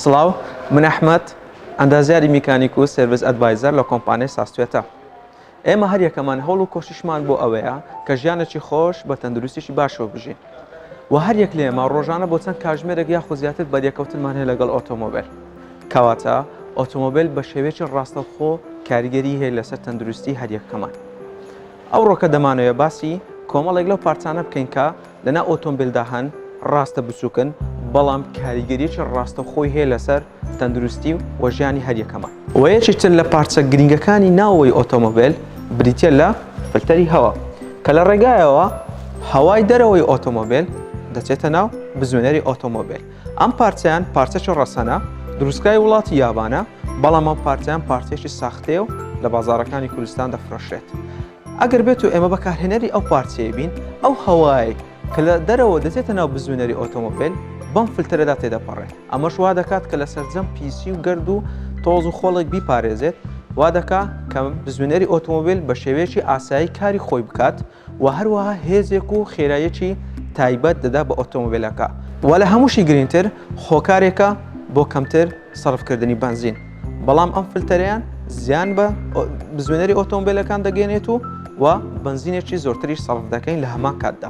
سڵاو من ئەحمد ئەندازیاری میکانیک و سرویس ئەدڤایزەر لە کۆمپانیای ساستێتە ئێمە هەر یەکەمان هەوڵ و کۆشیشمان بۆ ئەوەیە کە ژیانێکی خۆش بە تەندروستیشی باشەوە بژین و هەر یەک لێمە ڕۆژانە بۆ چەند کاژمێرەێک یا خۆزیاتر بەریەکەوتنمان هەیە لەگەڵ ئۆتۆمۆبیل کەواتە ئۆتۆمۆبیل بە شێوێکی ڕاستەوخۆ کاریگەری هەیە لەسەر تەندروستی هەریەکەمان ئەوڕۆکە دەمانەوێت باسی کۆمەڵێک لەو پارچانە بکەین کە لەناو ئۆتۆمبیلدا هەن، ڕاستە بچووکن، بەڵام کاریگەریی ڕاستەوخۆی هەیە لەسەر تەندروستی و ژیانی هەریەکەمان. و یەکێک تر لە پارچە گرنگەکانی ناوەوەی ئۆتۆمۆبیل بریتییە لە فلتەری هەوا کە لە ڕێگایەوە هەوای دەرەوەی ئۆتۆمۆبیل دەچێتە ناو بزوێنەری ئۆتۆمۆبیل. ئەم پارچەیان پارچەکی ڕەسەنە، دروستکای وڵاتی یابانە، بەڵام ئەم پارچەیان پارچەیەکی ساختەیە و لە بازاڕەکانی کوردستان دەفرۆشرێت. ئەگەر بێتو ئێمە بەکارهێنەری ئەو پارچەیە بین، ئەو هەوایەی کە لە دەرەوە دەچێتە ناو بزوێنەری ئۆتۆمۆبێل بەم فلتەرەدا تێدەپەڕێت، ئەمەش وا دەکات کە لە سەرجەم پیسی و گەرد و تۆز و خۆڵێک بیپارێزێت، وا دەکات کە بزوێنەری ئۆتۆمۆبێل بە شێوەیەکی ئاسایی کاری خۆی بکات. وە هەروەها هێزێک و خێرایەکی تایبەت دەدا بە ئۆتۆمبێلەکە. وە لە هەمووشی گرینگتر هۆکارێکە بۆ کەمتر سەرف کردنی بەنزین بەڵام ئەم فلتەرەیان زیان بە بزوێنەری ئۆتۆمبێلەکان دەگەێنێت و وە بەنزینێکی زۆرتریش سەرف دەکەین لە هەمان کاتدا.